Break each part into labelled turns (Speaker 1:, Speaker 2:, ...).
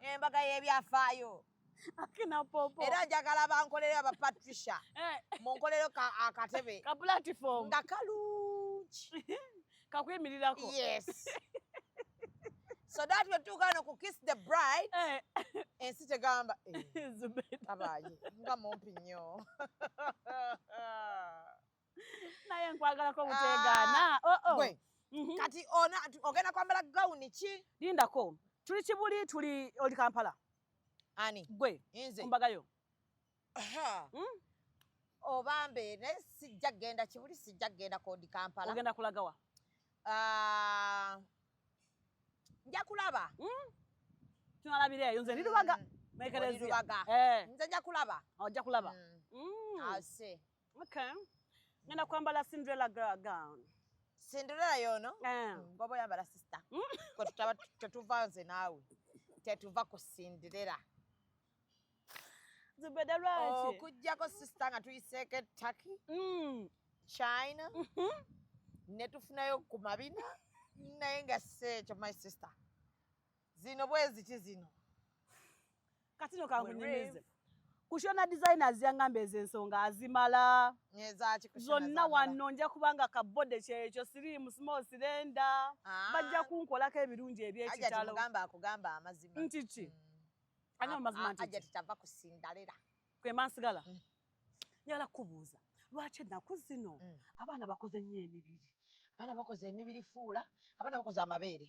Speaker 1: embaga y'ebyafaayo
Speaker 2: era njagala bankolere
Speaker 1: aba patricia eh. munkolero akatebe ka platform
Speaker 2: nga kalungi
Speaker 1: kakwimirirako
Speaker 2: yes
Speaker 1: so that we tuuka no ku kiss the bride eh. ensi tegamba eh. abaaye nga mumpi nnyo
Speaker 2: naye nkwagalako butegaana ah, oh, oh. gwe mhm.
Speaker 1: kati ona ogenda kwambala gawuni ki lindako tuli
Speaker 2: kibuli tuli oli kampala ani
Speaker 1: gwe
Speaker 2: ombagayo hmm?
Speaker 1: obambe naye sijja kugenda kibuli sijja kugenda kodi kampala ogenda kulagawa
Speaker 2: ah,
Speaker 1: nja kulaba hmm?
Speaker 2: tunalabira eyo nze ndirubaga mm. nekereziaga eh. nze nja
Speaker 1: kulaba ojja oh, kulaba mm.
Speaker 2: Mm. ase
Speaker 1: Okay.
Speaker 2: Ngenda kwambala Cinderella girl gown. Cinderella
Speaker 1: yono? Eh. Ngobo yambala sister. Mm. Kwa tutaba tutuva nze nawe. Tetuva ku Cinderella.
Speaker 2: Zubeda lwaki? Oh, kujjako sister
Speaker 1: nga tuyiseke Turkey. Mm. China. Mm -hmm. Netufunayo ku mabina. Naye nga si ekyo my sister. zino bweziti zino
Speaker 2: kati no kankunyumize kushona designers yangamba ezo ensonga azimala
Speaker 1: zonna wanno nja
Speaker 2: kubanga kabode kyekyo sirimu small sirenda ah. bajja kunkolako ebirungi ebyekitalo
Speaker 1: nti ki
Speaker 2: mm. anyo amazima ntikiakusindalela
Speaker 1: kwemansigala
Speaker 2: mm. njagala kukubuuza lwaki ennaku zino mm. abaana bakoze nnyo emibiri abaana bakoze
Speaker 1: emibiri fuula abaana bakoze amabeere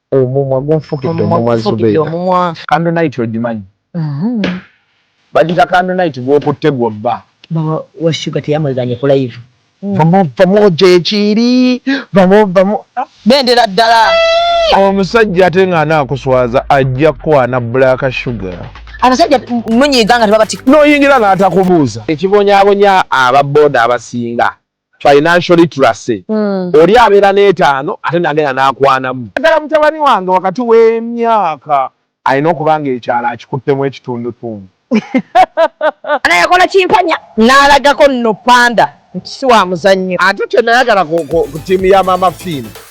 Speaker 1: Omumwa
Speaker 3: gunfukidde omumwa Zubeeda. Candle night ogimanyi? Bagiyita candle night gw'okutte gw'obba. Maama wa Shuga
Speaker 4: teyamwegaanye ku live. Vamo vamo
Speaker 3: gyekiri vamo vamo bendera
Speaker 1: ddala. Omusajja
Speaker 3: ate nga anakuswaza ajja kukwana black sugar. Abasajja
Speaker 1: munyiiga nga tebabatikako. Noyingira natakubuuza.
Speaker 3: Ekibonyabonya aba boda abasinga financial literacy oli abeera n'etaano ate nagenda n'akwanamu. Naddala mutabani wange wakati w'emyaka. Alina okuba ng'ekyalo akikuttemu ekitundutundu.
Speaker 1: Ana yakola kimpanya n'alagako nno Panda nti si wa muzannyo. Ate kye nayagala
Speaker 3: ku ttiimu ya Maama Fiina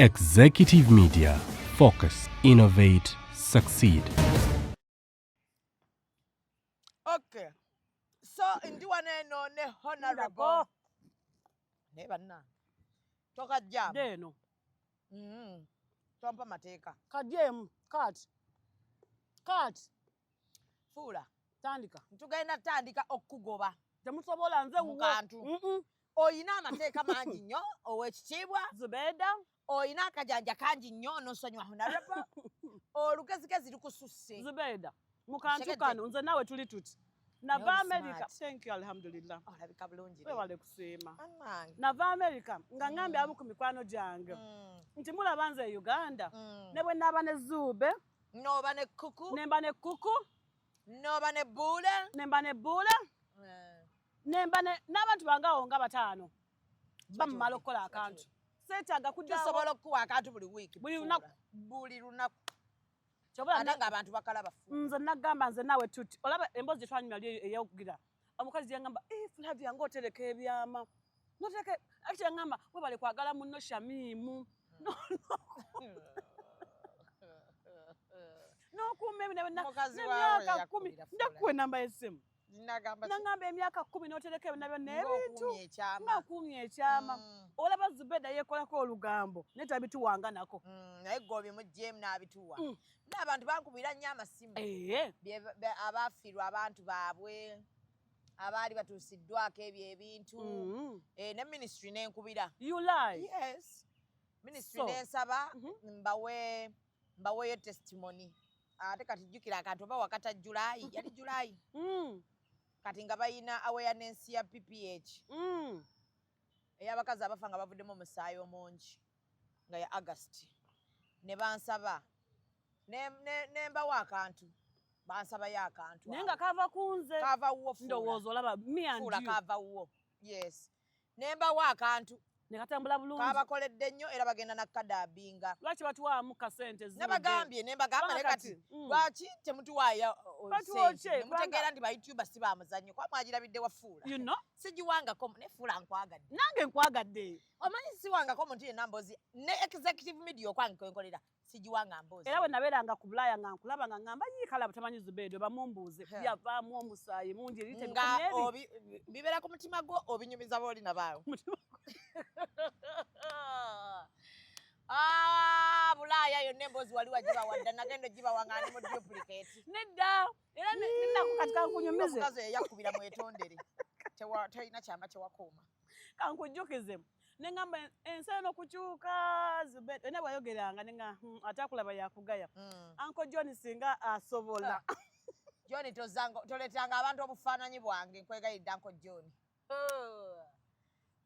Speaker 5: Executive Media Focus Innovate Succeed
Speaker 1: Okay so ndi wano eno ne honorable naye banna toka jam deno
Speaker 2: mm tompa
Speaker 1: mateeka kajem kat
Speaker 2: kat
Speaker 1: fuula tandika
Speaker 2: ntugenda tandika
Speaker 1: okukugoba temusobola nze
Speaker 2: mukantu
Speaker 1: olina amateeka mangi nnyo ow'ekitiibwa zubeeda
Speaker 2: olina akajanja
Speaker 1: kangi nnyo nosonyiwa honarable olugezigezi lukususse zubeeda mu
Speaker 2: kantu kano nze naawe tuli tuti nava america thank you alhamdulillah olabika bulungi wewale
Speaker 1: kusiima
Speaker 2: nava
Speaker 1: america
Speaker 2: nga ngambye abamu ku mikwano gyange mm. nti mulaba nze e uganda mm. ne bwe naaba ne zuube noba ne
Speaker 1: kuku nemba ne kuku
Speaker 2: noba ne
Speaker 1: buule nemba ne buule eh.
Speaker 2: nemba n'abantu bange awo nga bataano bamumala okukola akantu seetaaga kudasobola okukuwa akantu buli
Speaker 1: wiiki buli lunaku
Speaker 2: buli lunaku
Speaker 1: kyobaate
Speaker 2: nga abantu bakala
Speaker 1: bafu nze nagamba nze naawe
Speaker 2: tuti olaba emboozi gyetwanyuma li eyokugira omukazi gyengamba eh, fulavi yange otereka ebyama notereka ati yangamba webale kwagala munno shamiimu nokuuma ebinamyaka kumi njakuwa enamba yesimu nagamba emyaka kumi notereka ebina byonna ebintu nga nkuumye ekyama mm. olaba zubeda yekolako olugambo naye tabituwanganako mm, naye gwe obimugyemu
Speaker 1: nabituwa mm. naabantu bankubira nnyo amasimu eh. abafirwa abantu baabwe abaali batuusiddwako ebyo ebintu eh, ne ministry nenkubira ministry nensaba mm-hmm. mbawe mbaweeyo testimony ate ah, kati jjukira akantu oba wakata julayi yali julayi mm. kati nga balina awareness ya pph mm. ey'abakazi abafa nga bavuddemu omusaayi omungi nga ya agasti ne bansaba ne mbawo akantu bansabayo akantu naye nga kava kunze
Speaker 2: kava wuwo ndowooza
Speaker 1: olaba miandula
Speaker 2: kava wuwo
Speaker 1: yes ne mbawa akantu ne katambula bulungi
Speaker 2: kabakoledde nnyo era bagenda
Speaker 1: na kadaabinga lwaki batuwaamu
Speaker 2: kasente nabagambye ne mbagamba
Speaker 1: ne kati mm. lwaki temutuwaaya mutegeera nti bayutuba si ba muzannyo kuba mwagirabidde wafuula you know? sigiwangako
Speaker 2: ne fuula
Speaker 1: nkwagadde nange nkwagadde
Speaker 2: omanyi siwangako
Speaker 1: omuntu yenna mbozi ne executive media okwange kwenkolera sigiwa nga mbozi era wenabera nga ku bulaya
Speaker 2: nga nkulaba nga ngamba yii kalabu tamanyi zubedo bamumbuuze yavaamu omusaayi mungi nga
Speaker 1: bibera ku mutima gwo obinyumiza booli nabaawo Ah, bulaaya yonna emboozi wali wagibawadda nagenda ogibawa nga ndi mu duplicate nedda
Speaker 2: era nenako kati kankunyumize omukazi eyakubira
Speaker 1: mwetondere tolina kyama kyewakuuma kankujjukizemu
Speaker 2: nengamba ensi eno kukyuka zubeda ena bwayogeranga nenga hmm, ate akulaba yakugaya mm. anko john singa asobola ah.
Speaker 1: john toletanga abantu obufaananyi bwange nkwegayidde anko john oh.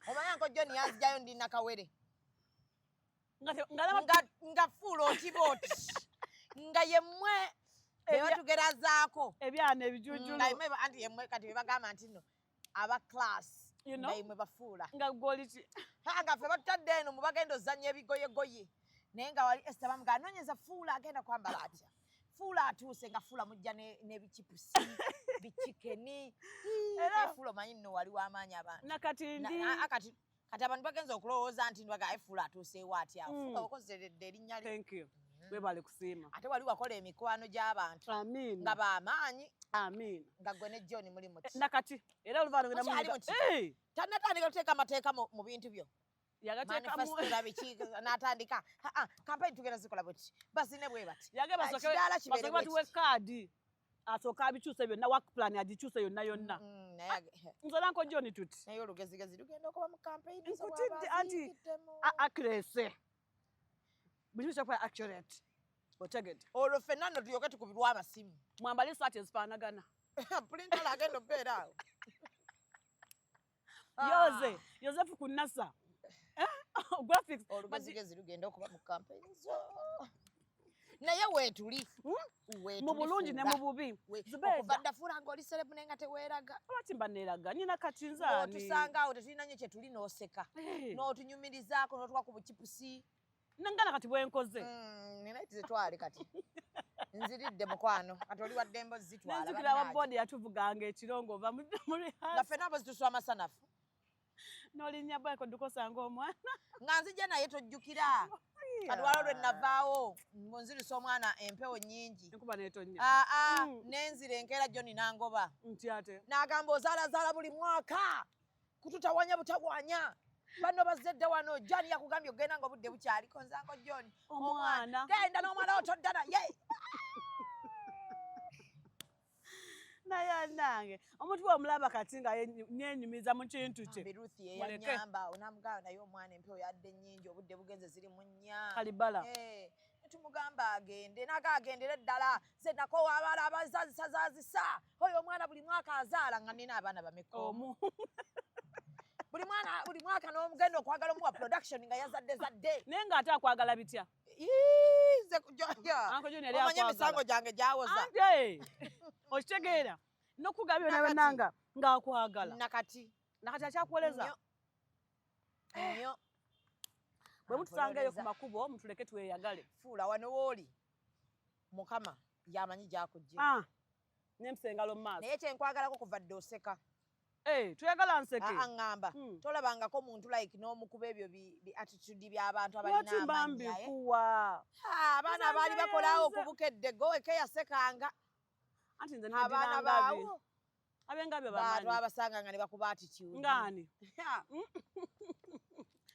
Speaker 1: omanyi anko john yanzijayo ndi nakawere nga fuula otiba oti nga yemwe ebatugerazaako ebyana
Speaker 2: ebijujulu mm, anti yemwe
Speaker 1: kati bebagamba nti no aba class you know mwe bafuula nga goliti
Speaker 2: nga fe batadde
Speaker 1: eno mu bagenda ozanya ebigoye goye naye nga wali Esther bamuga anonyeza fuula agenda kwambala atya fuula atuuse nga fuula mujja n'ebikipusi bikikeni era fuula omanyi nno wali w'amaanyi abantu nakati ndi akati kati abantu bagenza okulowooza nti nwaga efuula atuuseewo atya hmm. afuga okozeredde erinnya lye thank you hmm. webale
Speaker 2: kusiima ate wali wakola emikwano
Speaker 1: gy'abantu amiin nga
Speaker 2: bamaanyi
Speaker 1: amiin nga
Speaker 2: gwe ne john
Speaker 1: muli muti nakati era oluvaano genda
Speaker 2: muli
Speaker 1: muti tanatandika kuteeka amateeka mu bintu
Speaker 2: byo
Speaker 1: natandika kampeni tugenda zikola bweti bazine bwe bati yage basoke
Speaker 2: batuwe kaadi asooka abikyuse byonna work plan agikyuse yonna yonna mm, mm, nze nanko joni tuti naye olugezigezi lugenda
Speaker 1: okuba mu campaign nkutidde anti
Speaker 2: akrese buli kimu kyakuba accurate otegedde olwo ffenna nno
Speaker 1: tulyoke tukubirwa amasimu mwambale esaati
Speaker 2: ezifaanagana pulintala
Speaker 1: agenda okubeera awo
Speaker 2: Ah. yoze yosefu ku nasa eh? oh, graphics olugezigezi
Speaker 1: lugenda okuba mu kampeyini zo naye weetuli hmm? mu
Speaker 2: bulungi ne mu bubi okuva ddafuula
Speaker 1: ng'oli serebu naye nga teweeraga lwaki mba neeraga
Speaker 2: nyina kati nzaani otusanga awo tetulina nyo
Speaker 1: kye tuli n'oseka eh. n'otunyumirizaako n'otuwa ku bukipusi nangala kati
Speaker 2: bwenkoze mm, nina
Speaker 1: tizitwale kati nziridde mukwano kati oli waddembo zitwalanzukira wa boodi
Speaker 2: yatuvuganga ekirongo ova nga fena abo
Speaker 1: zituswa amasanafu
Speaker 2: nolinya bweko dukosanga omwana nga nzija naye
Speaker 1: tojjukira katwalo lwe navaawo nzirisa omwana empewo nyingi enkuba netonya aa ah,
Speaker 2: ah, mm. nenzira
Speaker 1: enkeera joni nangoba nti ate
Speaker 2: nagamba ozalazaala
Speaker 1: buli mwaka kututawanya butawanya bano bazedda wano jani yakugambye okugenda nga obudde bukyali konzango joni omwana genda
Speaker 2: n'omwana otodda
Speaker 1: naye
Speaker 2: naye anange omuntu bwomulaba kati nga nenyumiza mu kintu kye ruth yeyanyamba
Speaker 1: onamugamba naye omwana empewo yadde nyingi obudde bugenze ziri mu nnya kalibala
Speaker 2: eh, tumugamba
Speaker 1: agende naga agendere ddala ze nakowa abala abazazisazazisa Oyo omwana buli mwaka azaala nga nina abaana bameka omu. Buli mwana buli mwaka n'omugenda okwagala omuwa production nga yazadde zadde. Naye nga ate akwagala
Speaker 2: bitya? Ize kujoya.
Speaker 1: Anko Junior yali akwagala. Omanye misango gyange gyawoza. Ante.
Speaker 2: Okitegeera. Nokugabyo na bananga nga akwagala. Nakati. Nakati akyakuweleza.
Speaker 1: Nyo. Eh. Nyo.
Speaker 2: Bwe mutusangeyo ku makubo mutuleke tweyagale. Fuula wano woli.
Speaker 1: mukama yamanyi gyakujja ah, nempisa
Speaker 2: engalo mumaaso naye kyenkwagalako kuva
Speaker 1: dde oseka eh, toyagala
Speaker 2: nseke aŋŋamba ah, ah, hmm.
Speaker 1: tolabangako muntu like n'omukuba ebyo biattitude by'abantu abalinaamanyibambikuwa abaana baali bakolawo okubukedde gowekeyasekanga
Speaker 2: abaana baawo
Speaker 1: abenga byo
Speaker 2: bamanyi twabasanga
Speaker 1: nga ne bakuba attitude ngani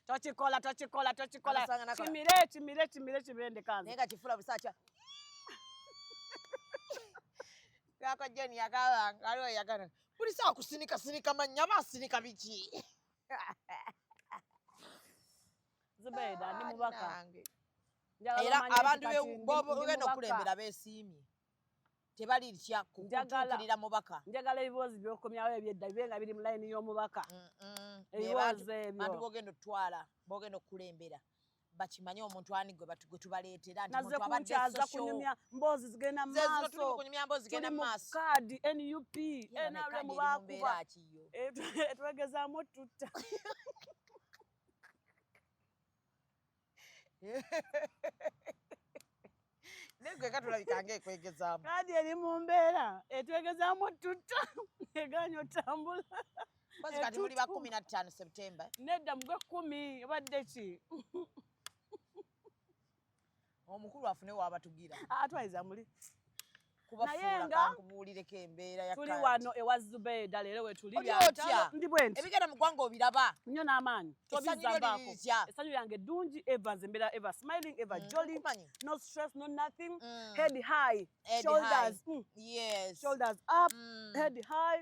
Speaker 2: tokikola tokikola tokikola kimire kimire kimire kibende kanza naye nga kifula busaakya
Speaker 1: gako jeni yakabanga aliwo yagana buli saa kusinika sinika mannya aba asinika biki
Speaker 2: zubeeda ndi mubaka
Speaker 1: era abantu bogenda okulembera besiimye tebalitya kutuukirira mubaka njagala ebiboozi byokomyawo
Speaker 2: ebyedda bibe nga biri mu layini y'omubaka ebiboozi ebyo bantu bogenda otutwala
Speaker 1: bogenda okukulembera bakimanye omuntu ani gwe batu gwetubaleetera naze kunkyaza
Speaker 2: kunyumya mboozi zigenda maaso kaadi nup nrm bakuba twegezaamu tutta
Speaker 1: negwe nga tulabika nga ekwegezaamu kadi eri mu
Speaker 2: mbeera etwegezaamu tutta egaanyi otambula bazi kati
Speaker 1: muli bakumi na ttaano septemba nedda mugwe kumi
Speaker 2: obadde ki
Speaker 1: omukulu afune waabatugira atwaliza muli
Speaker 2: naye
Speaker 1: nga tuli wano ewa
Speaker 2: Zubeeda leero wetuli ndi bwenti
Speaker 1: ebigenda mu ggwanga obiraba nnyo n'amaanyi
Speaker 2: tobizambaako essanyu lyange ddungi eva nze mbeera eva smiling eva mm, jolly no stress no nothing mm. head high shoulders mm. shoulders up head high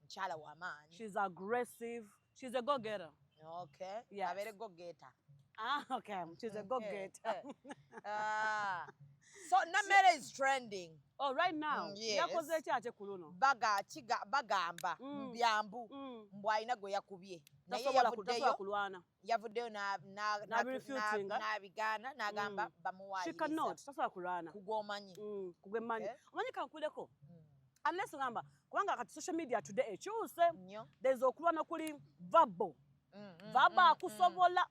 Speaker 2: mukyala wa
Speaker 1: maanyi she's
Speaker 2: aggressive she's a go
Speaker 1: getter okay
Speaker 2: yes. abere go
Speaker 1: getter
Speaker 2: ah okay she's a go getter ah
Speaker 1: so namere is trending oh right now mm,
Speaker 2: yes. yakoze ekya ate
Speaker 1: kuluno baga kiga bagamba mm. byambu mm. mbwa ina go yakubye naye yavudeyo kulwana yavuddeyo n'abigaana n'agamba mm. bamuwaayiriza
Speaker 2: kugwomanyi mm,
Speaker 1: kugwemanyi eh?
Speaker 2: omanyi kankuleko mm. unless ngamba kubanga kati social media today ekyuse there's okulwa nokuli vabo vabo akusobola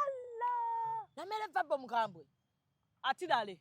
Speaker 1: alla
Speaker 2: namere vabo
Speaker 1: mukambwe atilale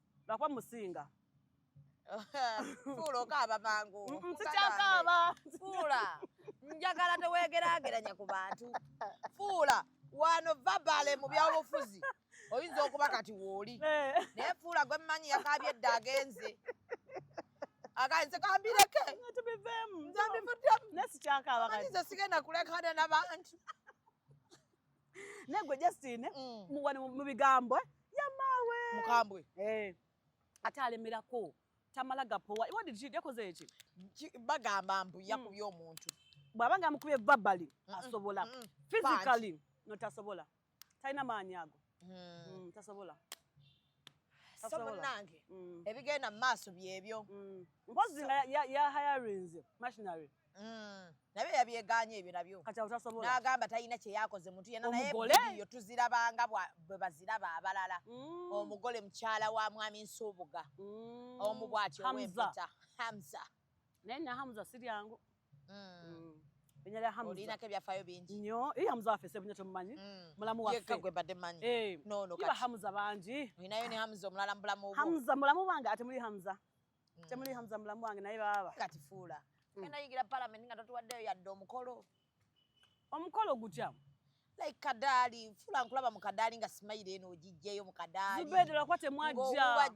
Speaker 2: lwakuba musinga
Speaker 1: fuula okaaba mangu sikyakaaba
Speaker 2: fuula
Speaker 1: njagala tewegeraageranya ku bantu fuula wano vabale mu byabufuzi oyinza okuba kati wooli eh. naye fuula gwe mmanyi yakaabye edda agenze akanze kambireke
Speaker 2: nzambivuddemu
Speaker 1: nesikyakaaba
Speaker 2: nze sigenda kulekana
Speaker 1: nabantu
Speaker 2: naye gwe Justine mm. wano mu bigambo eh? yamaawe mukambwe
Speaker 1: eh.
Speaker 2: ate alemerako tamala gapowa yakoze eki bagamba
Speaker 1: mbu yakubye mm. omuntu bwaba nga amukubye
Speaker 2: babali asobola physically no tasobola talina maanyi ago mm. tasobola
Speaker 1: somunange mm. ebigenda mu maaso byebyo mm. mpozi nga
Speaker 2: yahayarinze machinery Mm. naye
Speaker 1: yabyeganye ebyo nabyo n'agamba
Speaker 2: talina kye
Speaker 1: yakoze muntu yena naye yo tuzirabanga bwe baziraba abalala mm. omugole mukyala wa mwami nsuubuga mm. omu bwati owempita hamza naye na
Speaker 2: hamza si lyangu olinako ebyafaayo bingi
Speaker 1: nyo eri hamza waffe sebunya
Speaker 2: temumanyi mulamu waffeyekka gwe mbadde manyi eh.
Speaker 1: nono kati hamza bangi
Speaker 2: olinayo ne hamza omulala
Speaker 1: mu bulamu bwo hamza mulamu wange ate muli
Speaker 2: hamza mm. temuli hamza mulamu wange naye baba kati fuula
Speaker 1: mm. enda yigira parliament nga totuwaddeyo yadde omukolo omukolo
Speaker 2: gutya like kadaali
Speaker 1: fuula nkulaba mu kadaali nga simayire eno ogijjeyo mu kadaali zubede lwakuba temwajja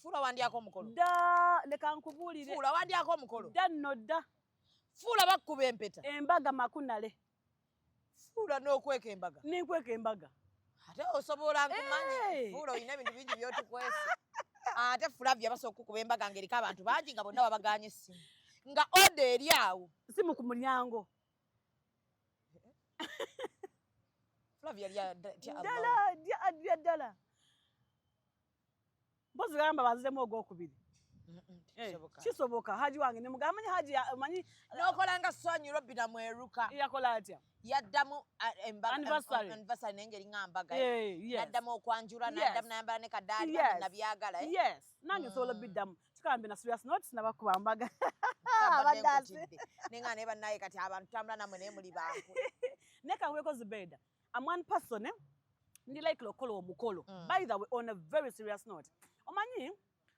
Speaker 2: fuula
Speaker 1: wandyako omukolo da leka
Speaker 2: nkubuulire fuula wandyako omukolo
Speaker 1: da nno dda
Speaker 2: fuula
Speaker 1: bakkuba empeta embaga makunale
Speaker 2: fuula
Speaker 1: n'okweka embaga nenkweka embaga
Speaker 2: ate osobola
Speaker 1: nkumanyi fuula olina ebintu bingi byotukwesa ate fulavya basobola okukuba embaga ngaeriko abantu bangi nga bonna babaganye essimu nga oda eri awo simu ku mulyango fulavya lya
Speaker 2: ddala mpozi gamba baziremu ogwokubiri eh, kisoboka haji wange nemugamanye haji manyi nokolanga swanyu
Speaker 1: robina mweruka yakola atya
Speaker 2: yaddamu
Speaker 1: anniversary
Speaker 2: naye ngeri nga mbaga
Speaker 1: naddamu
Speaker 2: okwanjula naddamu
Speaker 1: nayambala ne kadaali nabyagala eh? yes nange mm.
Speaker 2: nsobola biddamu kikambe na serious not nabakuba mbaga abaddazi
Speaker 1: naye nga naye bannaye kati abantu tambula namwe naye muli bangu naye kankweko
Speaker 2: zubeda am one person eh? ndi like lokola omukolo mm. by the way on a very serious note omanyi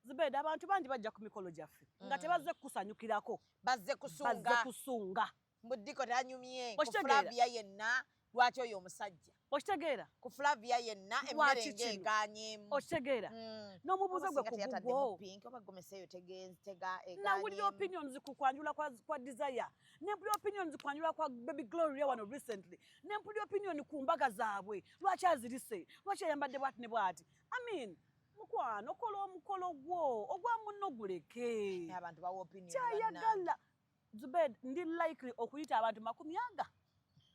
Speaker 2: zibeda abantu bangi bajja ku mikolo gyaffe mm. nga tebazze kukusanyukirako bazze kusunga
Speaker 1: kusunga mbuddiko tanyumye ku flavia yenna lwaki oyo omusajja okitegeera ku
Speaker 2: flavia
Speaker 1: yenna emmere ng'eganyemu okitegeera mm.
Speaker 2: n'omubuuza gwe kugugwonawulira eh, opinions ku kwanjula kwa desire nempulira opinions kwanjula kwa baby gloria wano recently ne mpulira opinion ku mbaga zaabwe lwaki azirise lwaki ayambadde bwati ne bwati i mean mukwano kola omukolo gwo ogwa munno guleke
Speaker 1: kyayagala
Speaker 2: zubed ndi likely okuyita abantu makumi aga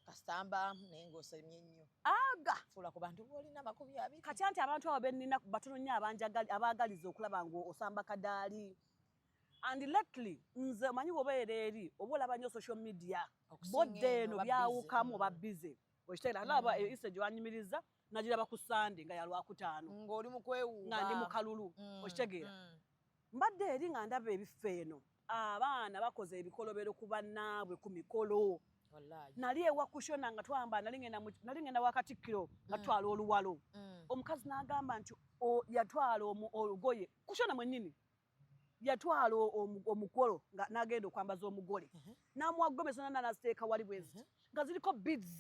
Speaker 2: kasitamba
Speaker 1: naye ngaosemye nnyo aga fuula ku
Speaker 2: bantu boolina
Speaker 1: makumi abiri kati anti abantu abo
Speaker 2: bennina batono nnyo abanjagala abaagaliza okulaba ngaosamba kadaali and lately nze omanyi wobeera eri oba olaba nyo social media bodde eno byawukamu oba bize okiteera alaba mm. eyo isa gyewanyumiriza nagiraba ku sande nga yalwakutaano ngaoli mukwewuuba nga
Speaker 1: ndi mukalulu
Speaker 2: mm, okitegeera mm. mbadde eri nga ndaba ebifo eno abaana bakoze ebikolobero ku bannaabwe ku mikolo nali ewakushona nga twamba nali ngenda wakatikkiro nga tutwala oluwalo omukazi n'agamba nti yatwala olugoye kushona mwennyini yatwala omukolo nagenda okwambaza omugole mhm. namuwa gomesi nana naziteeka wali bweziti mhm. nga ziriko bids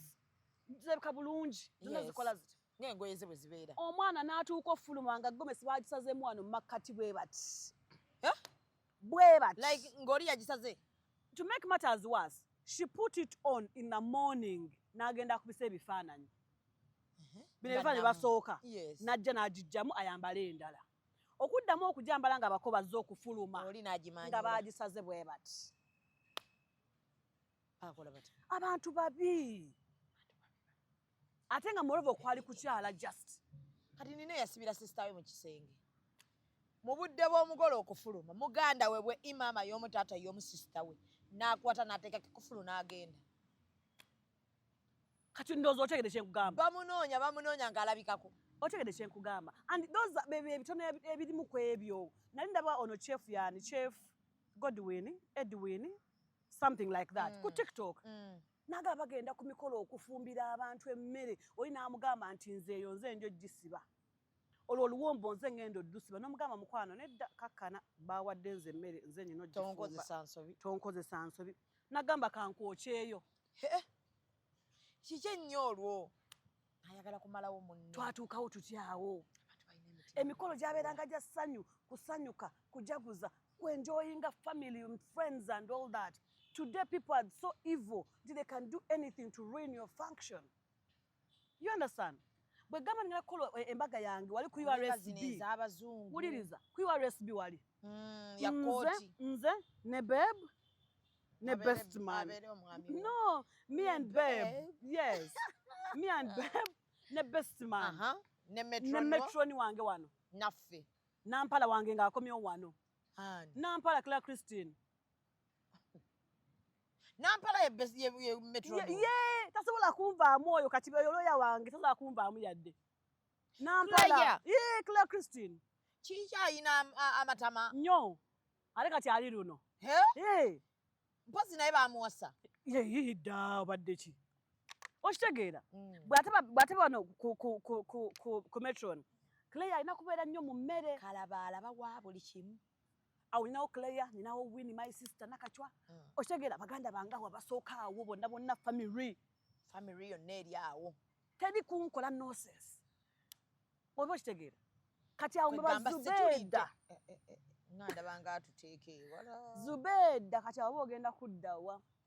Speaker 2: zirabika bulungi zonna zikola ziti ngaengoye ze bwe zibeera
Speaker 1: omwana n'atuuka
Speaker 2: ofuluma nga gomesi bagisazemu wano mumakkati bwe bati eh? bwe bati like ng'oli
Speaker 1: yagisaze to make matters
Speaker 2: worse she put it on in the morning n'agenda akubisa ebifaananyi mhm. bino ebifaananyi basooka najja
Speaker 1: n'agijjamu
Speaker 2: ayambale endala okuddamu okujambala nga bako bazze okufuluma nga
Speaker 1: baagisaze bwe
Speaker 2: bati
Speaker 1: abantu babi
Speaker 2: ate nga morova okwali kukyala just kati nina eyasibira
Speaker 1: sisitawe mu kisenge mu budde bw'omugole okufuluma muganda we bwe imaama y'omu taata y'omu sisitawe n'akwata n'ateeka kikufulu n'agenda
Speaker 2: kati ndowooza otegede kyenkugamba bamunoonya bamunoonya
Speaker 1: ng'alabikako otegede kyenkugamba
Speaker 2: and those ebitono ebirimu ku ebyo nali ndaba ono chef yani chef godwin edwin something like that mm. ku tiktok mm. naga bagenda ku mikolo okufumbira abantu emmere oli n'amugamba nti nze eyo nze njo gisiba olwo oluwombo nze ngenda oddusiba nomugamba mukwano nedda kakkana bawadde nze emmere nze nyina otonkozesa nsobi nagamba kankwokyeyo
Speaker 1: kiki ennyo olwo ayagala kumalawo munne twatuukawo tutyawo
Speaker 2: emikolo gyabeeranga gya ssanyu kusanyuka kujaguza kuenjoyinga family and friends and all that today people are so evil nti they can do anything to ruin your function you understand bwe gamba nina kukola eh, embaga yange wali ku usb wuliriza ku usb wali mm, nze
Speaker 1: nze ne
Speaker 2: beb ne best man no me and beb yes me and beb ne best man uh -huh. ne
Speaker 1: metroni wange
Speaker 2: wano naffe
Speaker 1: nampala wange
Speaker 2: ng'akomyewo wano nampala cla christine
Speaker 1: nampala ye tasobola
Speaker 2: kunvaamu oyo kati oyo looya wange tasobola kunvaamu yadde nampala ye claire christine kiki ayina
Speaker 1: amatama nyo
Speaker 2: ate kati ali luno
Speaker 1: mpozi naye bamuwasa yeyidda
Speaker 2: obadde ki okitegeera mm. bwate bano ku metron claire alina kubeera nnyo mu mmere kalabalaba wa buli
Speaker 1: kimu awo ninawo
Speaker 2: claire ninawo win my sister nakacwa mm. okitegera baganda bange awo abasooka awo bonna bonna family family yonna
Speaker 1: eri awo teri kunkola
Speaker 2: noses oba okitegeera kati awo mubazubeda eh, eh, eh,
Speaker 1: ngandabanga atuteeke ewala zubeda kati
Speaker 2: awo ogenda kuddawa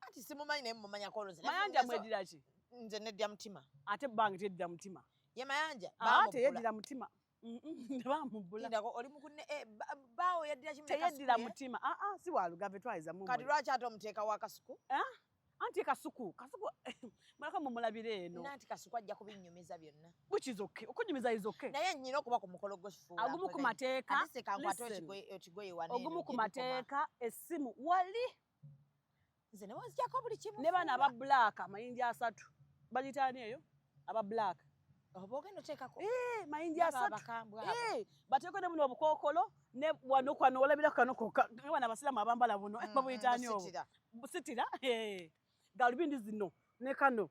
Speaker 2: anti simumanyi naye
Speaker 1: mumanyako oloze mayanja mwedira ki
Speaker 2: nze nedya mutima
Speaker 1: ate bange teddira
Speaker 2: mutima ye mayanja
Speaker 1: ah, teyeddira mutima
Speaker 2: nebamubbulako oli mukune
Speaker 1: eh, baawo yaddira kimu teyeddira mutima aa ah,
Speaker 2: ah, si walugave twayiza mu kati lwaki ate omuteeka wa
Speaker 1: kasuku anti
Speaker 2: kasuku kasuku mulaka mumulabira eno nanti kasuku ajja kubinyumiza
Speaker 1: byonna which is okay okunyumiza
Speaker 2: is okay naye nyina okuba ku mukolo
Speaker 1: gw'ekifuula agumu ku mateeka ogumu ku mateeka
Speaker 2: essimu wali
Speaker 1: nze ne bwezijako buli kimu ne bana aba black
Speaker 2: amayinja asatu bagitaani eyo aba black oba ogenda
Speaker 1: oteekako eh, mayinja asatu
Speaker 2: eh, bateeko ne buno obukookolo ne wano kwano olabira kano koka wana abasiraamu abambala buno mm, babuyitaani obwo busitira eh, galubindi zino ne kano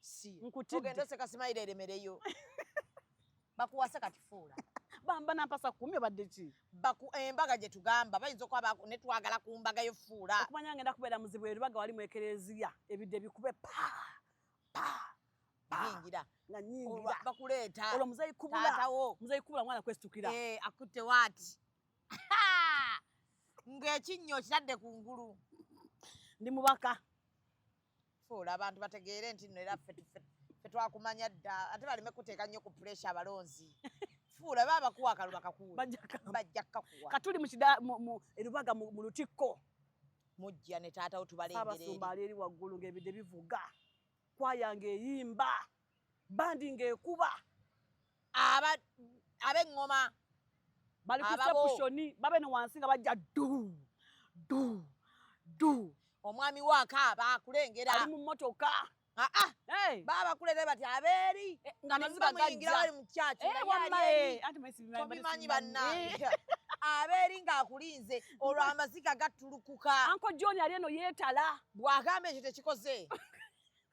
Speaker 2: si
Speaker 1: nkutidde oseka simayira eremereyo bakuwase kati fuula bamba nampasa
Speaker 2: kumi obadde ki baku embaga eh, gye
Speaker 1: tugamba bayinza okuba ne twagala ku mbaga yo fuula okumanya ngenda kubeera muzibu
Speaker 2: erubaga wali mu ekereziya ebidde bikube pa pa
Speaker 1: nyingira nga nyingira
Speaker 2: bakuleeta olwo muzeyi
Speaker 1: kubula
Speaker 2: muzeyi kubula mwana kwesitukira eh akutte waati
Speaker 1: ng'ekinnyo okitadde ku ngulu ndi
Speaker 2: mubaka
Speaker 1: fuula abantu bategeere nti no era ffe twakumanya dda ate baleme kuteeka nnyo ku puresha abalonzi fuula baba bakuwa akalulu bakakuwabajja kakuwa katuli
Speaker 2: erubaga mu lutikko mujja
Speaker 1: ne taatawo tubalengere abasumba ali eri waggulu
Speaker 2: ng'ebide bivuga kwayange eyimba bandi ng'ekuba ab'eŋŋoma bali ku sepushoni babe ne wansi nga bajja du du du
Speaker 1: omwami wo akaaba akulengera ali mu mmotoka
Speaker 2: ah, ah.
Speaker 1: baba kulere bati abeeri eh, nga nebamuyingira bali mu kyaki eh, tobimanyi eh, bannange abeeri ng'akulinze olwo amaziga gattulukuka anko john ali eno
Speaker 2: yeetala bw'agamba ekyo
Speaker 1: tekikoze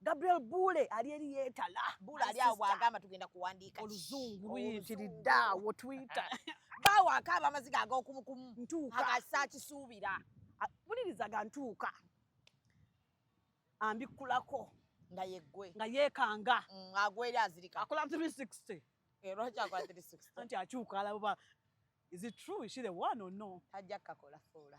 Speaker 1: Gabriel Bule
Speaker 2: ali eri yetala. Bule ali awo agamba
Speaker 1: tugenda kuwandiika. Oluzungu
Speaker 2: luyitiridde awo Twitter. Bawo akaaba
Speaker 1: amaziga ag'okumu kumu. Ntuuka. Akasa
Speaker 2: kisuubira.
Speaker 1: Bulirizaga
Speaker 2: ntuuka. Ambikkulako. Nga yeggwe.
Speaker 1: Nga yeekanga.
Speaker 2: Mm, agwa eri azirika.
Speaker 1: Akola 360.
Speaker 2: Eh, lwaki akola 360?
Speaker 1: Anti akyuka alaba.
Speaker 2: Is it true? Is she the one or no? Tajja kakola fuula.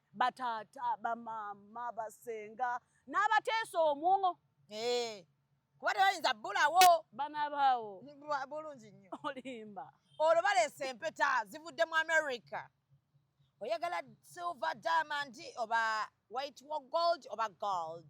Speaker 2: bataata bamaama basenga n'abateesa omwo eh,
Speaker 1: kuba tebayinza bulawo bana baawo
Speaker 2: bulungi nnyo
Speaker 1: olimba olwo
Speaker 2: baleesa
Speaker 1: empeta zivudde mu america oyagala silver diamond oba white wa gold oba gold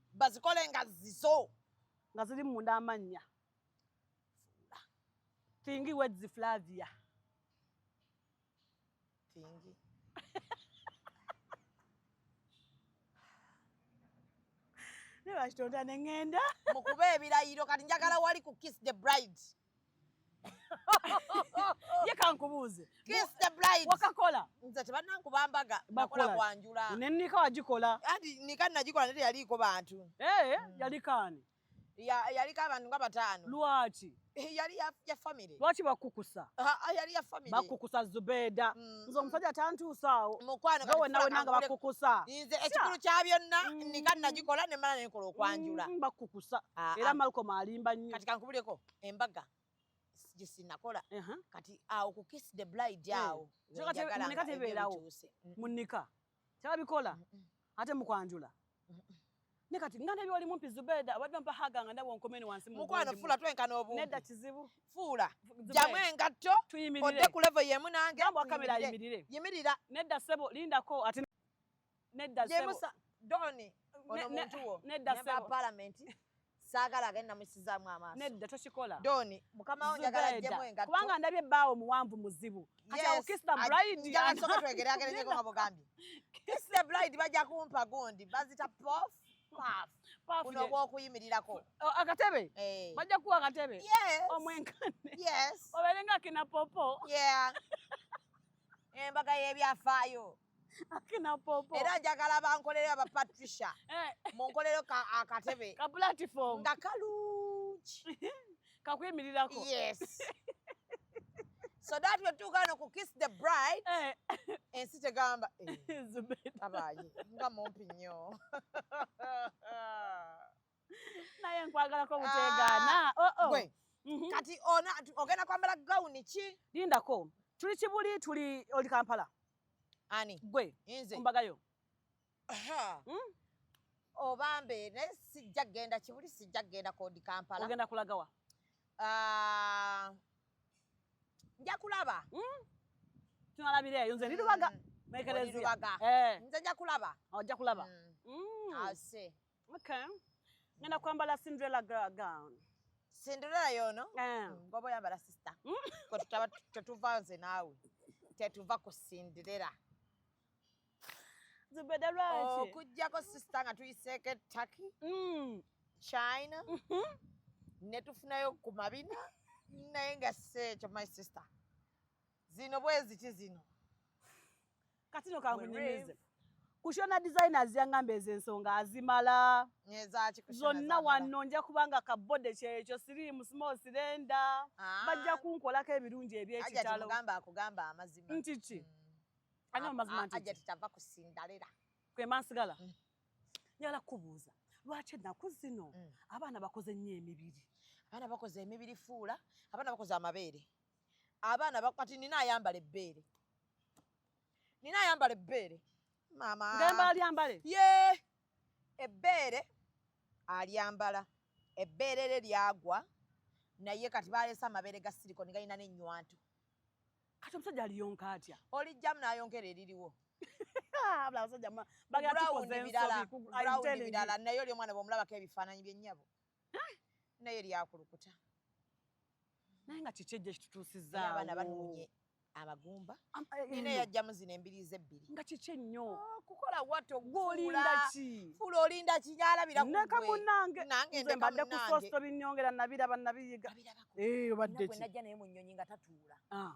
Speaker 1: bazikole nga zizo nga ziri
Speaker 2: munda amannya thingi wedzi flavia
Speaker 1: thingi
Speaker 2: nebakitonda nengenda mukuba ebirayiro
Speaker 1: kati njagala wali ku kiss the bride
Speaker 2: ye kankubuuze
Speaker 1: wakakola nze
Speaker 2: tebanankuba
Speaker 1: mbaga nakola kwanjula nenika wagikola
Speaker 2: ati nika nagikola
Speaker 1: naye teyaliiko bantu ee eh, hmm. yaliko ani yaliko abantu nga bataano lwaki eh,
Speaker 2: yali ya
Speaker 1: famire lwaki bakukusa
Speaker 2: ah, ah, yali ya famire
Speaker 1: bakukusa zubeeda
Speaker 2: hmm. nze omusajja tantuusaawo mukwano nga wena wena
Speaker 1: nga bakukusa
Speaker 2: nze ekikulu kya
Speaker 1: byonna mm. nika nagikola ne mala nekola okwanjula mm, bakukusa ah,
Speaker 2: era ah. malcom alimba nnyo kati kankubuleko
Speaker 1: embaga gyesinakola kati awo ku kiss the blide eh, awo munika
Speaker 2: tebeerawo munika Tabikola. Ate mukwanjula. Ne kati ngana byo wali mumpi Zubeda abadde mpa haga nga ndabo nkomeni wansi mu. Mukwano fula twenkana
Speaker 1: obumpi. Nedda kizibu.
Speaker 2: Fula.
Speaker 1: Jamu engatto. Tuyimirire. Odde ku level yemu nange. Jambo akamera yimirire.
Speaker 2: Yimirira. Nedda sebo linda ko ate nedda sebo. Jemusa Doni. Ono
Speaker 1: muntu wo. Nedda sebo. Nemba parliament. saagala agende namusizaamu amaaso nedda tokikola doni
Speaker 2: mukama wo
Speaker 1: njagala ajjemu engatto kubanga ndabye bbaawo
Speaker 2: muwanvu muzibu kati awo kiss the bride njagala soka twegere
Speaker 1: agerenyeko nga bugambye kiss the bride bajja kumpa gundi bazita pof kuno gwokuyimirirako oh, akatebe
Speaker 2: eh. bajja kuwa akatebe omwenkane obeere nga kina popo
Speaker 1: embaga y'ebyafaayo akina
Speaker 2: popo era njagala bankolere
Speaker 1: aba patricia eh. munkolero akatebe ka platform
Speaker 2: nga kalungi
Speaker 1: kakwimirirako
Speaker 2: yes so that we tuuka no ku
Speaker 1: kiss the bride eh. ensi tegamba eh, abaye nga mumpi nnyo
Speaker 2: naye nkwagalako butegaana ah, oh, oh. mhm.
Speaker 1: kati ona ogenda kwambala gawuni ki lindako tuli
Speaker 2: kibuli tuli oli kampala ani
Speaker 1: gwe
Speaker 2: ombagayo hmm?
Speaker 1: obambe naye sijja kgenda kibuli sijja kgenda kodi kampala ogenda kulagawa
Speaker 2: ah,
Speaker 1: nja kulaba hmm?
Speaker 2: tunalabira eyo nze ndirubaga mm. nekereziaga eh. nze nja
Speaker 1: kulaba ojja oh, kulaba mm.
Speaker 2: Mm. ase Okay. Ngenda
Speaker 1: kwambala
Speaker 2: Cinderella girl gown.
Speaker 1: Cinderella yono? Eh. Mm, Bobo yambala sister. Mm. Kwa tutaba tutuva nze nawe. Tetuva ku Cinderella.
Speaker 2: Zubeda lwaki? Oh, kujjako sister nga
Speaker 1: tuyiseke Turkey. Mm. China. Mm -hmm. Netufunayo ku mabina. Naye nga seekyo my sister. Zino bweziti zino.
Speaker 2: katino kankunyimize kushona designers yangamba ezo ensonga azimala zonna wanno nja kubanga kabode kyekyo sirimu small sirenda ah. bajja kunkolako ebirungi ebyekitalo
Speaker 1: nti ki
Speaker 2: mm. ani amazima ntikiavakusindalela
Speaker 1: kwema nsigala
Speaker 2: mm. njagala kukubuuza lwaki ennaku zino mm. abaana bakoze nnyo emibiri abaana bakoze
Speaker 1: emibiri fuula abaana bakoze amabeere abaana kati nina ayambala ebbeere nina ayambala ebbeere maama ngemba alyambale
Speaker 2: ye
Speaker 1: ebbeere alyambala ebbeere lye lyagwa naye kati baleese amabeere ga silikoni galina n'ennywanto kati
Speaker 2: omusajja aliyonka atya olijjamu n'ayonkera
Speaker 1: eririwo
Speaker 2: birala naye oli omwana
Speaker 1: bwomulabako ebifaananyi byennyabo naye lyakulukuta
Speaker 2: naye nga kiki ejja kitutuusizaawo abaana banunye
Speaker 1: abagumba eh, nina eh, yajjamu zino embiri ze ebbiri nga kiki ennyo
Speaker 2: ah, kukola wato
Speaker 1: gulindaki
Speaker 2: fula olinda kinyalabira
Speaker 1: neka munange
Speaker 2: nange nze mbadde ku sosto binyongera nabiraba nabiyiga eh, obadde ki najja naye mu nnyonyi nga
Speaker 1: tatuula ah.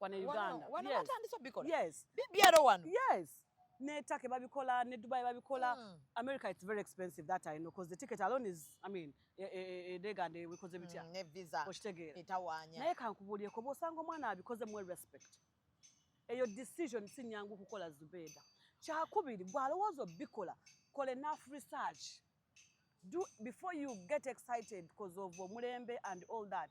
Speaker 2: wano e Uganda. Wano yes. batandise obikola.
Speaker 1: Yes. BBR wano. Yes.
Speaker 2: Ne Turkey babikola, ne Dubai babikola. Mm. America it's very expensive that I know because the ticket alone is I mean e, e, e, dega ne wikoze bitya. Mm, ne visa. Okitegera.
Speaker 1: Etawanya.
Speaker 2: Naye kankubulie
Speaker 1: ko
Speaker 2: bosanga omwana abikoze mu respect. Eyo decision si nyangu kukola Zubeda. Kyakubiri gwalowooza obikola kola enough research. do before you get excited because of omulembe and all that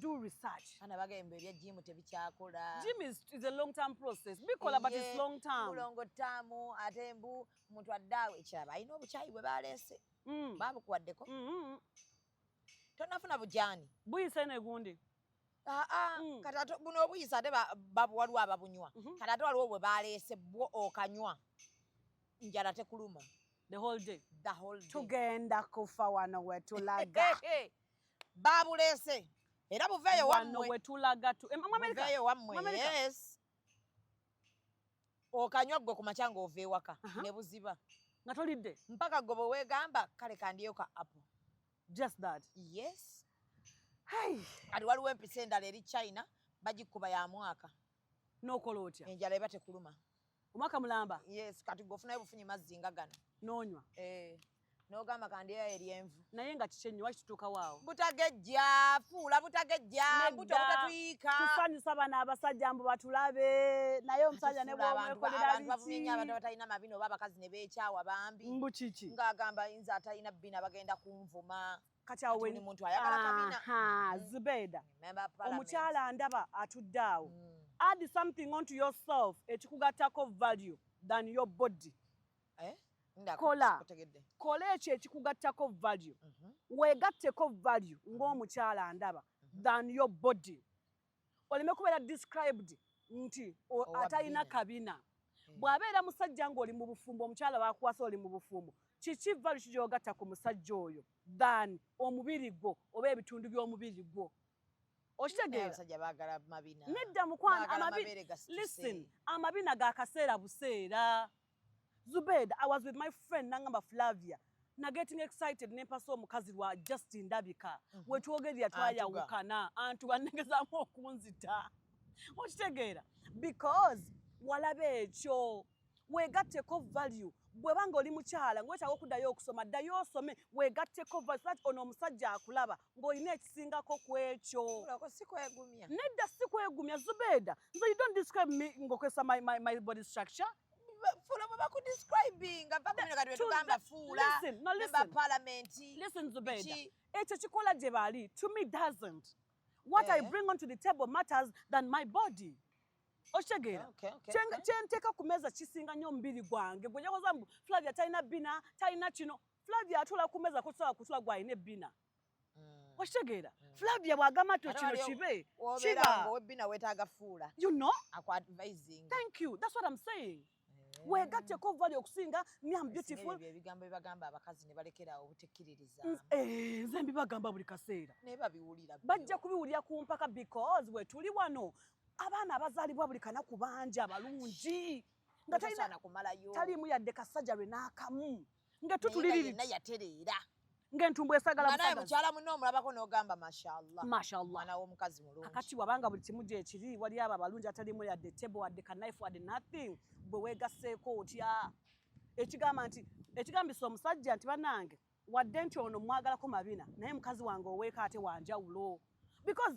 Speaker 2: do research ana bagembe bya gym
Speaker 1: tebikyakola gym is, is a long
Speaker 2: term process bikola yeah, but it's long term mulongo tamu
Speaker 1: ate mbu muntu addaawo ekyaba alina obukyayi bwe baleese mm. babukuwaddeko mm -hmm. tonafuna bujani buyisa eno egundi
Speaker 2: ah, ah, mm.
Speaker 1: kati buno obuyisa ate waliwo ababunywa mhm. kati ate waliwo bwe baleese bwo okanywa njala tekuluma the whole day
Speaker 2: the whole day tugenda
Speaker 1: kufa wano
Speaker 2: wetulaga
Speaker 1: babulese era buveeyo wamwe wetulaga
Speaker 2: tu eh, mama america buveeyo wamwe
Speaker 1: yes okanywa gwe kumakya nga ova ewaka ne buziba nga tolidde
Speaker 2: mpaka gwe bwewegamba
Speaker 1: kale kandiyo ka apple just that
Speaker 2: yes
Speaker 1: kati waliwo empisa endala eri china bagikuba ya mwaka nokola
Speaker 2: otya enjala eba tekuluma
Speaker 1: omwaka mulamba
Speaker 2: yes kati gwe ofunayo
Speaker 1: bufunyi mazzi nga gano nonywa eh.
Speaker 2: nogamba
Speaker 1: kandeya eryenvu naye nga kiki ennyo
Speaker 2: wakitutuukawo awo butagejja
Speaker 1: fuula butagejja mbuto butatuyiika tusanyusa bano
Speaker 2: abasajja mbu batulabe naye omusajja ne bwomwekolerabikiabantu abantu abatalina
Speaker 1: mabina oba abakazi ne beekyawa bambi mbu kiki ng'agamba
Speaker 2: yinza atalina
Speaker 1: bina bagenda kunvuma kati awo muntu
Speaker 2: ayagala
Speaker 1: kabina mm. zubeeda
Speaker 2: omukyala ndaba atudde awo mm. add something onto yourself ekikugattako value than your body eh? kola kola ekyo ekikugattako value mm -hmm. wegatteko value mhm. ng'omukyala ndaba mm -hmm. than your body oleme kubeera described nti atalina kabina mm. bw'abeera musajja ng'oli mu bufumbo omukyala wakuwasa oli mu bufumbo kiki value kijogatta ku musajja oyo than omubiri gwo oba ebitundu by'omubiri gwo okitegeeranedda mukwano amabina gakaseera buseera Zubeda, I was with my friend Nangamba Flavia. Na getting excited ne mpasa omukazi wa just ndabika. Mm -hmm. Wetwogerya twaya ukana antu banegeza mu okunzita. Okitegeera because walabe ekyo wegatteko value bwebanga oli mukyala ngwetaaga okuddayo okusoma ddayo osome wegatteko value so that ono omusajja akulaba ng'olina ekisingako ku ekyo nedda si kwegumya zubeeda nze you don't describe me ng'okozesa my, my, my body structure fuula bwe
Speaker 1: bakudescribinga vakuminekatwetugamba fuula neba palamenti listen zubeeda
Speaker 2: ekyo kikola gye baali to me doesn't what yeah. i eh? bring onto the table matters than my body okitegeera kyenteeka ku meeza kisinga nnyo omubiri gwange gwejakoza mbu flavia talina bina talina kino Flavia atula ku meza kusobola kutula gwalina ebbina mm. okitegeera mm. Flavia bw'agamba nti kino kibe kiba ng'owebbina
Speaker 1: weetaaga fuula you know aku
Speaker 2: advising
Speaker 1: thank you that's what I'm
Speaker 2: saying eh. weegatteko vali okusinga me am beautiful ebyo ebigambo bibagamba
Speaker 1: abakazi ne balekerawo obutekkiririza eh, nze
Speaker 2: mbibagamba buli kaseera naye babiwulira
Speaker 1: bajja kubiwulira ku
Speaker 2: mpaka because we tuli wano abaana abazaalibwa buli kanaku bangi abalungi nga taliimu yadde kasajja lwe n'akamu nga tutuliriri naye yatereera
Speaker 1: nga entumbu
Speaker 2: esagala busagazi mukyala munno omulabako
Speaker 1: n'ogamba mashallah mashallah mwana w'omukazi
Speaker 2: mulungi akati
Speaker 1: wabanga buli kimu
Speaker 2: gyekiri wali abo abalungi atalimu yadde table wadde knife wadde nothing bwe weegasseeko otya ekigamba nti ekigambisa omusajja nti banange wadde nti ono mwagalako mabina naye mukazi wange oweeka ate wanjawulo because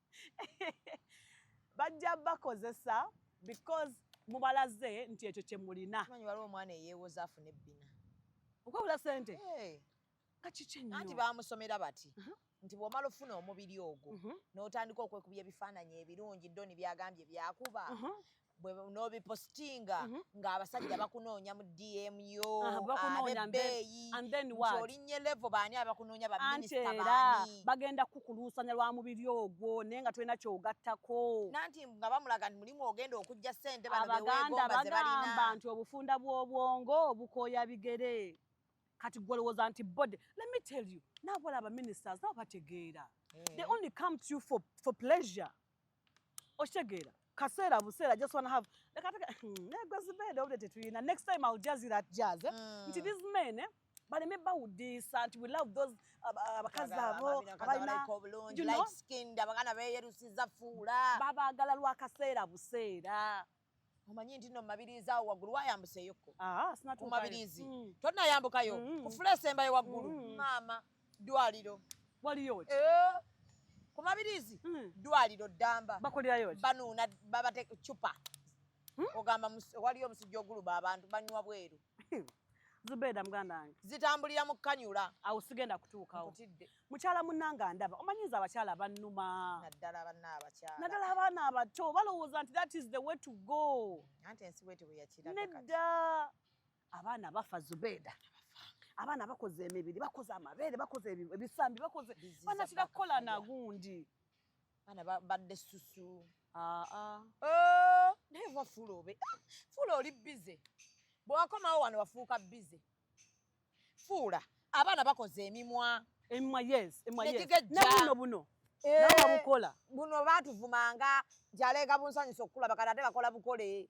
Speaker 2: bajja bakozesa because mubalaze nti ekyo kyemulina manyi waliwo omwana eyewoza
Speaker 1: afuna ebbina okwebula
Speaker 2: sente kakikyenanti bamusomera bati
Speaker 1: uh-huh. nti bwomala ofuna omubiri ogwo uh-huh. notandika okwekubya ebifaananyi ebirungi doni byagambye byakuba uh-huh. bwe nobipostinga mm -hmm. nga abasajja bakunoonya mu dm yo ah, abebeeyi olinye levo baani abakunoonya baminisita baani bagenda kukuluusanya
Speaker 2: lwa mubiri ogwo naye nga tolina kyogattako nanti nga bamulaga
Speaker 1: nti mulimu ogenda okujja sente abaganda bagamba nti obufunda
Speaker 2: bw'obwongo obukoya bigere kati gwolowooza nti body let me tell you nabola abaministers nabo bategeera eh. they only come to you for, for pleasure okitegeera kaseera buseera just wanna have leka teka hmm, negwe zibeede obudde tetuyina next time i'll jazz it at jazz eh? mm. nti these men eh? baleme bawudiisa nti we love those abakazi abo abalinaobulungi light skinned
Speaker 1: abagana beyerusiza fuula babaagala lwakaseera
Speaker 2: buseera omanyi nti
Speaker 1: no mumabiriizi awo waggulu wayambuseyokko ah, ah, ku
Speaker 2: mabiriizi mm.
Speaker 1: tonayambukayo mm. ku fula esembayo waggulu mm. maama ddwaliro waliyo eh, ku mabiriizi ddwaliro ddamba banuuna
Speaker 2: babate
Speaker 1: cupa hmm? ogamba waliyo omusujja oguluba abantu banywa bweru Zubeda
Speaker 2: muganda wange zitambulira mu kanyula
Speaker 1: awo sigenda kutuukawo
Speaker 2: mukyala munanga ndaba omanyi nze abakyala bannuma naddala abanna abakyala naddala abaana abato balowooza nti that is the way to go anti ensi bweti bwe
Speaker 1: yakiraga nedda
Speaker 2: abaana bafa zubeda abaana bakoze emibiri bakoze amabeere bakoze ebisambi bakoze banatira kukola nagundi Bana
Speaker 1: badde susu. Ah ah. Oh, naye wa fulo obe. Fulo oli busy. Bwakomawo wano wafuuka busy. Fuula abaana bakoze emimwa. Emimwa yes, emimwa
Speaker 2: yes. Na buno buno. Eh, Nawa bukola. Buno batuvumanga
Speaker 1: jaleega bunsanyusa okulaba kati ate bakola bukole.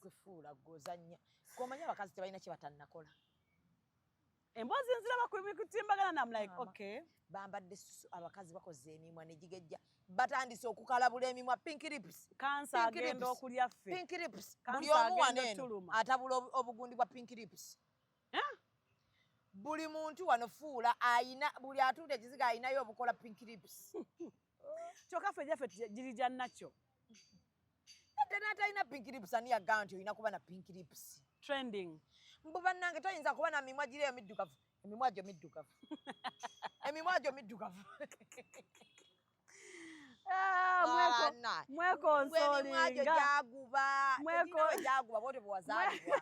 Speaker 2: kufuula
Speaker 1: gozanya komanya abakazi tebalina kyebatannakola
Speaker 2: emboozi nziraba kutimbagana namlike okay bambadde susu
Speaker 1: abakazi bakoze emimwa negigejja batandise okukalabula emimwa pink lips kansa agenda
Speaker 2: okulya ffe pink lips buli
Speaker 1: omu wano eno atabula obugundi bwa pink lips eh? buli muntu wano fuula ayina buli atuudde ekiziga ayinayo obukola pink lips kyoka
Speaker 2: fe jafe jiri ja nacho
Speaker 1: tena hata ina pink lips ani agamba nti olina kuba na pink lips trending
Speaker 2: mbu bannange
Speaker 1: toyinza kuba na mimwa giri eyo middugavu emimwa gyo middugavu emimwa gyo middugavu ah, mwekonsolingajaguba
Speaker 2: bote bwewazalibwa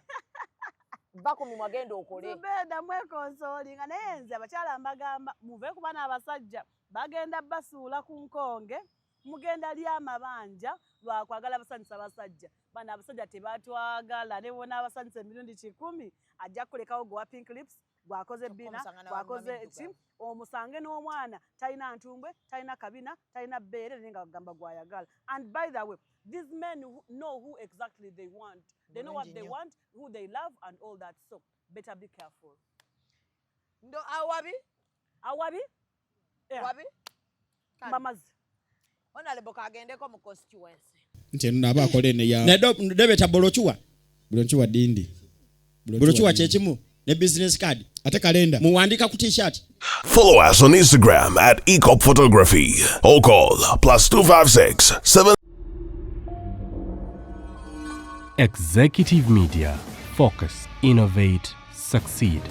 Speaker 2: va ku mimwa genda okole zubeda mwekonsolinga naye nze abakyala mbagamba muve kuba n'abasajja Bagenda basuula ku nkonge mugenda lya amabanja lwa kwagala basanyusa basajja bana abasajja tebatwagala ne bona abasanyusa emirundi kikumi ajja kulekawo gwa pink lips gwakoze bina gwakoze ki omusange n'omwana talina ntumbwe talina kabina talina bbeere naye nga agamba gwayagala and by the way these men who know who exactly they want they know what they want who they love and all that so better be careful
Speaker 1: ndo awabi awabi
Speaker 2: eh.
Speaker 1: wabi mamazi onalebo kagendeko mu constituency nti eno naaba akola
Speaker 6: ene ya debeta bolokiwa bolokiwa dindi bolokiwa kyekimu ne business card ate kalenda muwandika ku t-shirt follow us on
Speaker 7: instagram at ecop photography or call plus 256 7
Speaker 5: executive media focus innovate succeed